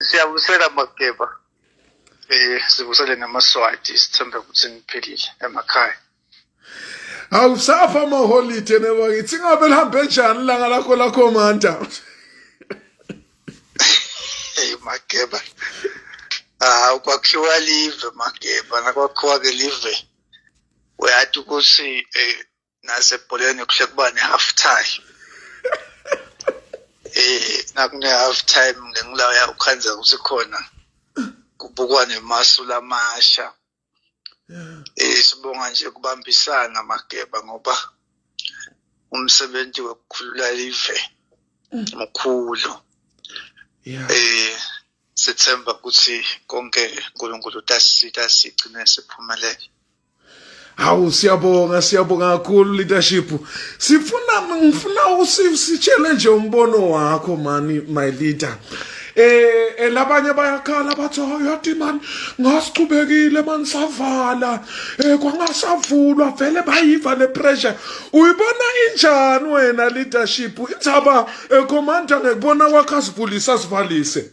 siyabusela mageba eh sibusele namaswati sithembe ukuthi niphilile emakhaya awusafa amaholide nebo ngithi ngabe lihambe njani langa lakho lakho manta hey mageba ah kwakhiwa live mageba nakwakhiwa ke live uyathi ukuthi eh, nasebholeni kuhle kuba ne-half time eh nakune-half time ngengilaya ukhanzeka ukuthi khona kubukwa nemasu lamasha eh sibonga nje kubambisana mageba ngoba umsebenzi wokukhulula live mkhulu yeah. eh sithemba ukuthi konke uNkulunkulu utasisita sigcine siphumelele hawu siyabonga siyabonga kakhulu leadership sifuna ngifuna usitshele nje umbono wakho mani my leader eh, eh labanye bayakhala bathi yathi mani ngasichubekile mani savala eh kwangasavulwa vele bayiva le pressure uyibona injani wena leadership inthaba eh, commander ngekubona kwakho asivulise asivalise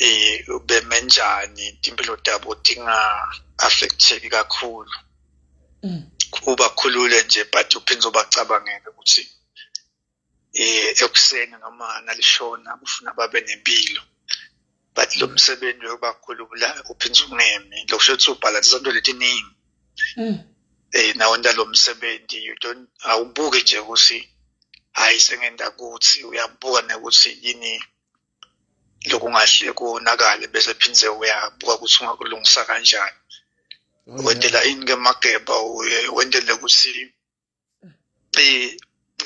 um beme njani timpilo tabo tinga-affecteki kakhulu mm. ubakhulule nje but uphinde ubacabangele ukuthi um ekuseni noma nalishona ufuna babe nempilo but lo msebenzi yokubakhulula uphinde ungemi lokusho ukuthi ubhalansa izinto letiningi um nawo ndalo msebenzi you don't awubuki nje ukuthi hayi sengenda kuthi uyabuka nekuthi yini lokungahle konakale bese phindze uyabuka ukuthi ungakulungisa kanjani oh, wentela ini ke mageba uye wentele ukuthi eh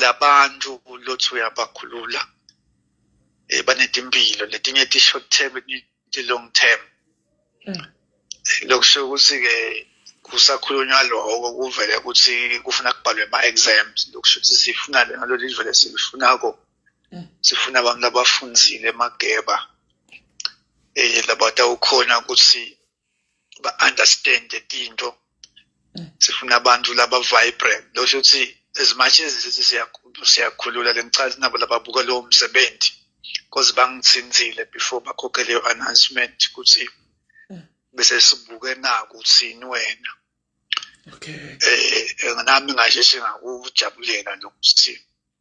labantu lothi uyabakhulula eh banetimpilo letinye ti short term ti long term mm. lokusho ukuthi ke kusakhulunywa lokho kuvele ukuthi kufuna kubhalwe ama-exams lokusho ukuthi sifuna lena lolu livele silifunako sifuna abantu abafunzile emageba um labatawukhona ukuthi ba-understande tinto sifuna abantu laba vibrant lo shuthi as much as sithi siyakhulula lengichazi nabo lababuka lowo msebenzi cause bangithinthile before bakhokhe leyo announcement ukuthi bese sibuke naku uthini wena okay eh nami ngasheshe ngakujabulela lokuthi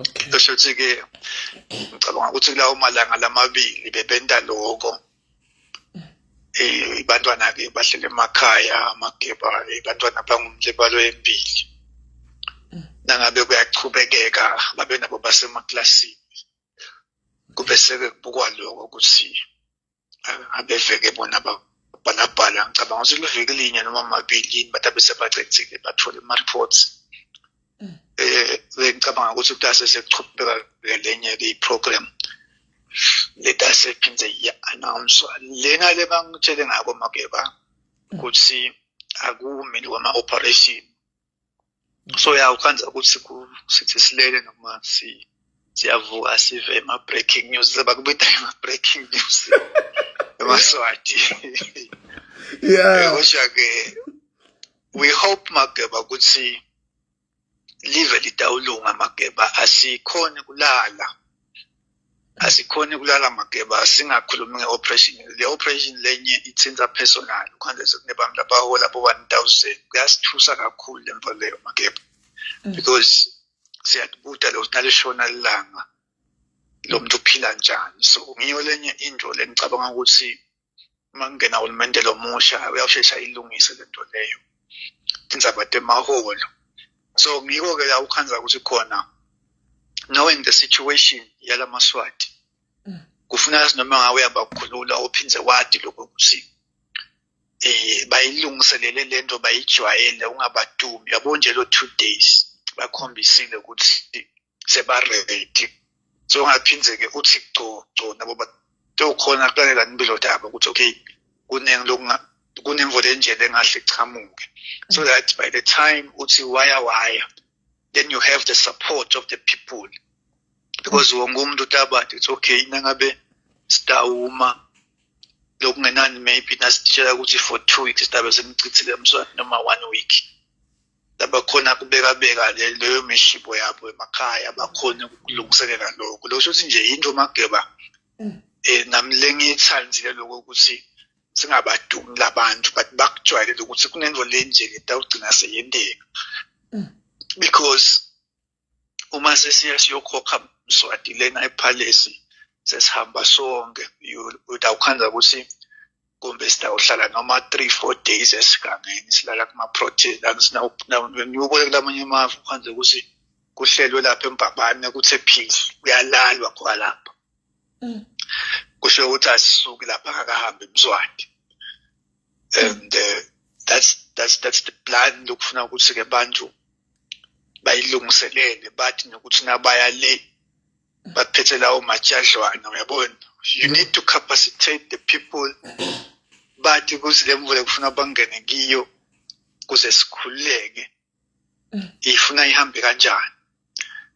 okay esho ukuthi ke ngicabanga ukuthi kulawo malanga lamabili bebenta lokho eh ibantwana ke bahlele emakhaya amageba ibantwana eh, bangumlibalo empili nangabe kuyachubekeka babe nabo basemaklasini kube seke kubukwa lokho ukuthi abeveke bona bhalabhala ngicabanga ukuthi liveke linye noma amabili yini bathi abesebacethile bathole ama-reports um bengicabanga ukuthi kutase sekuchubeka ke lenye-ke i-program letase phinde iya-announswa lena le bangitshele ngako mageba ukuthi akumini kwama-operation so ya ukhanza ukuthi sithi silele noma si siyavuka sive ma breaking news sebakubita ma breaking news emaswati yeah kodwa ke we hope mageba ukuthi live litawulunga mageba asikhoni kulala asikhoni kulala mageba singakhulumi nge-operation le-operation lenye ithinta personal khona kunebantu abahola bo-one thousand kuyasithusa kakhulu le nto leyo mageba mm. because siyakubuda lo nalishona lilanga lo muntu uphila njani so ngiyo lenye into lengicabanga ukuthi uma kungena hulumende lomusha uyawushesha ilungise le nto leyo indzaba temaholo so ngiko-ke la ukhanza ukuthi khona knowing the situation yala maswati mm. kufuna azi noma ngawe uyabakhulula uphinde wadi lokho ukuthi eh bayilungiselele lento bayijwayele ungabadumi yabo nje lo 2 days bakhombisile ukuthi sebaredi so ungaphindze-ke uthi gco gco nabo tewukhona kulalelani impilo daba ukuthi okay kuningi lokunga kunemvula enjena engahle ichamuke so mm. that by the time uthi waya waya then you have the support of the people because mm. wonke umuntu utabade uthi okay nangabe sitawuma lokungenani maybe nasitshela ukuthi for two weeks sidabe senichithile emswane noma one week labakhona kubekabeka leyo mishipo yabo emakhaya bakhona ukulungiselela lokho lokho sho ukuthi nje yinto mageba um eh, nami lengiyithandile lokho ukuthi singabadumi labantu but bakujwayelele ukuthi kunento lenje le tawugcina seyenteka mm. because uma sesiya siyokhokha mswati lena ephalesi sesihamba sonke utawukhanda ukuthi kumbe sitawuhlala noma three four days esigangeni silala kuma-protein ngiwubone kulamanye amave ukhanda ukuthi kuhlelwe lapha embabane kuthe phili kuyalalwa khona lapha mm. kusho ukuthi asisuki lapha kakahambe emswati and uh, that's that's that's the plan lokufuna ukuthi ke bantu bayilungiselele bathi nokuthi nabaya le baphethe lawo majadlwana uyabona you need to capacitate the people bathi kuthi le mvula kufuna bangene kiyo kuze sikhululeke ifuna ihambe kanjani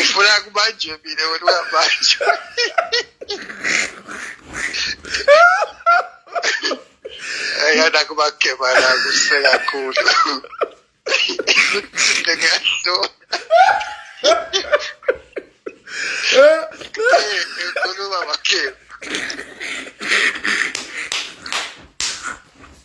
ufuna kubanjwe mina wena ungabanjwa ayana kubagebana kuse kakhulu ngiyasho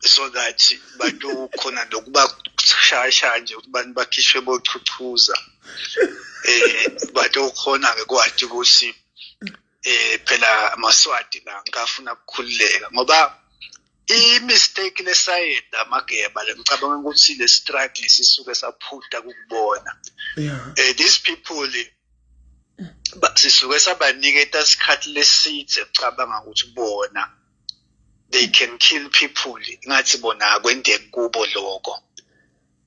so that bantu khona nokuba shasha nje ukuthi bantu bakhishwe bochuchuza eh bantu khona ke kwathi ukuthi eh phela amaswati la ngafuna ukukhululeka ngoba i-mistake lesayenza amageba le ngicabanga ukuthi le struggle sisuke saphuta kukubona yeah. uh, these people sisuke sabaniketa isikhathi leside cabanga ukuthi bona they can kill people ngathi bona akwendeki kubo lokho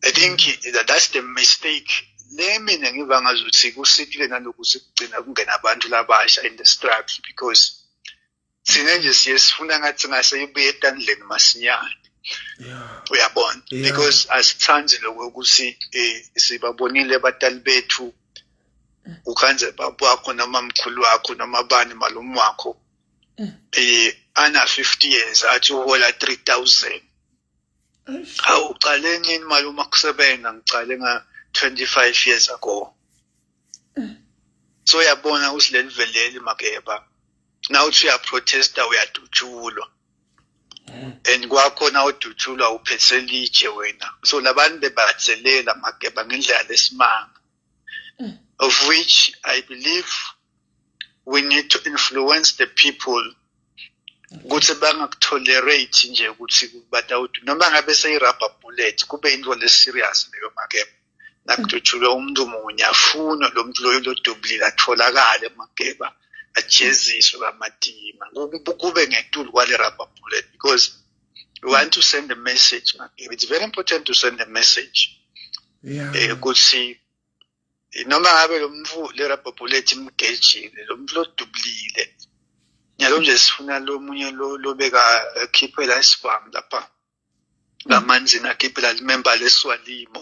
i think that that's the mistake le mina ngiva ngazi ukuthi kusikile nalokuthi kugcina kungena abantu labasha in the struggle because thina nje siye sifuna ngathi ngase ibuye etandleni masinyane uyabona because asithandi lokho ukuthi eh, sibabonile abatali bethu ukhanze baba wakho noma mkhulu wakho noma bani malume wakho eh ana 50 years athi uhola 3000 hawu uqale nini mali uma kusebenza ngiqale nga 25 years ago so yabona usileliveleli makeba now uthi uyaprotesta uyadutshulwa and kwakhona udutshulwa uphethe litshe wena so labantu bebatselela makeba ngendlela lesimanga of which I believe we need to influence the people ukuthi bangakutolerate nje ukuthi batawuthi noma ngabe seyi-rubber bullet kube into le-serious leyo makeba nakudutshulwe umuntu munye afunwe lo muntu loyo lodubulile atholakale makeba ajeziswe bamatima kube ngetulu kwale-rubber bullet because we want to send a message it's very important to send a message yeah. eh, ukuthi noma ngabe lo mfu lerabhobhulethi imgejile lo mfu lodubulile nyalo nje sifuna lo munye lo lobeka akhiphe la isibhamu lapha ngamanzi nakhiphela limemba leswalimo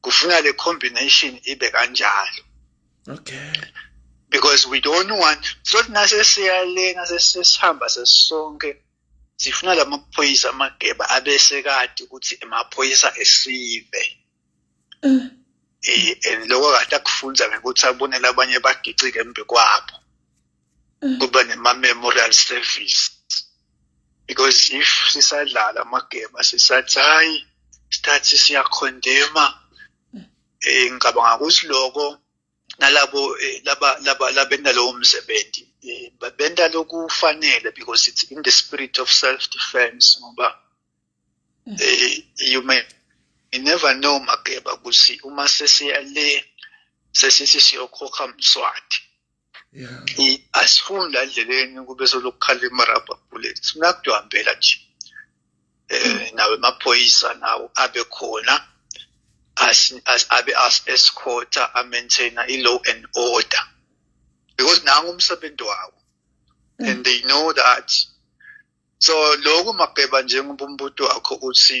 kufuna le combination ibe kanjalo okay because we don't want sothi nasesiyalena sesihamba sesonke sifuna lamaphoyisa amageba abese kade ukuthi emaphoyisa esive mm. eh and lokho kade akufunza ngekuthi abonele abanye bagicike embi kwabo kube nema-memorial service because if sisadlala amagema sisathi hayi isikhathi siyakhondema eh ngicabanga ukuthi lokho nalabo eh, laba laba labenda lowo msebenzi eh, benda lokufanele because it's in the spirit of self defense ngoba mm. eh, you may you never know mageba ukuthi uma sesiya le sesithi siyokhokha mswati asifuni la ndleleni kube solokhu khala imarabha bullets funa kuhambela nje um nawe maphoyisa nawo abe khona abe as-escorta amaintaina i-law and order because nangu umsebenzi wawo mm. and they know that so lokhu mageba njengoba umbuto wakho uthi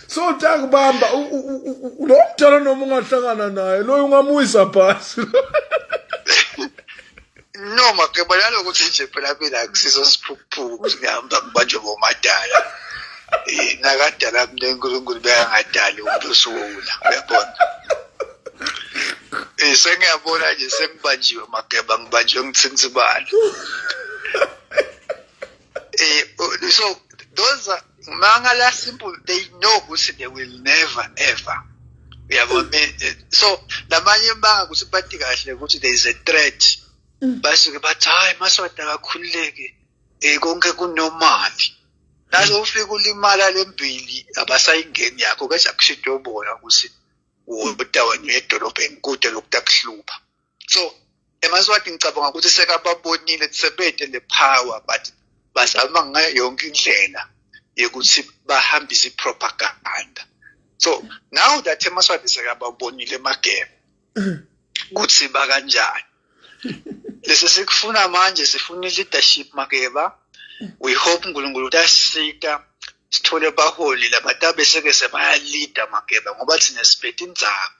so takubamba lo mdala noma ungahlangana naye loyo ungamuyisa phasi noma ke bona lokuthi nje phela mina kusizo siphukuphuku ukuthi ngihamba ngibanjwe bomadala eh, nakadala mina unkulunkulu bekangadali umuntu osuwula uyabona um sengiyabona nje sengibanjiwe mageba ngibanjwe ngithinsibalo um eh, so those are Mangala simple they know ukuthi they will never ever uyabona eh, so namanye banga ukuthi bathi kahle ukuthi there is a threat mm. basuke bathi hayi maswati akakhululeki um konke kunomali naso ufika ulimala le mbili abasayingeni yakho keza kusho into yobona ukuthi wodawanye edolobheni kude lokuthi akuhlupha so emaswati ngicabanga ukuthi sekababonile sebede le power but bazama ngayo yonke indlela yokuthi bahambise i-propaganda so now that emaswati sekababonile emagebe kuthi bakanjani lesi sikufuna manje sifuna i-leadership makeba we hope unkulunkulu ukuthi asisita sithole abaholi labantu abeseke sebayalida mageba ngoba thina siphethe inzaba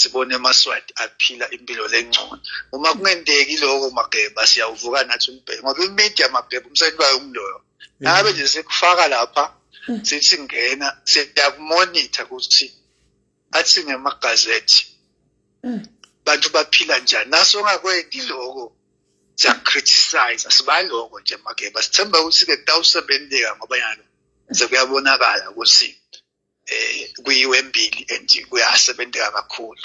sibone amaswati aphila impilo lengcono uma kungenteki lokho mageba siyawuvuka nathi umbheke ngoba imedia mageba umsebenzi wayo umloyo ngabe nje sikufaka lapha mm. sithi ngena siyakumonitha ukuthi athi ngemagazethi mm. bantu baphila njani naso ongakwendi lokho siyakriticize sibaloko nje mageba sithemba ukuthi-ke kutawusebenzeka ngoba yalo sekuyabonakala ukuthi eh kuyiwe embili and kuyasebenzeka kakhulu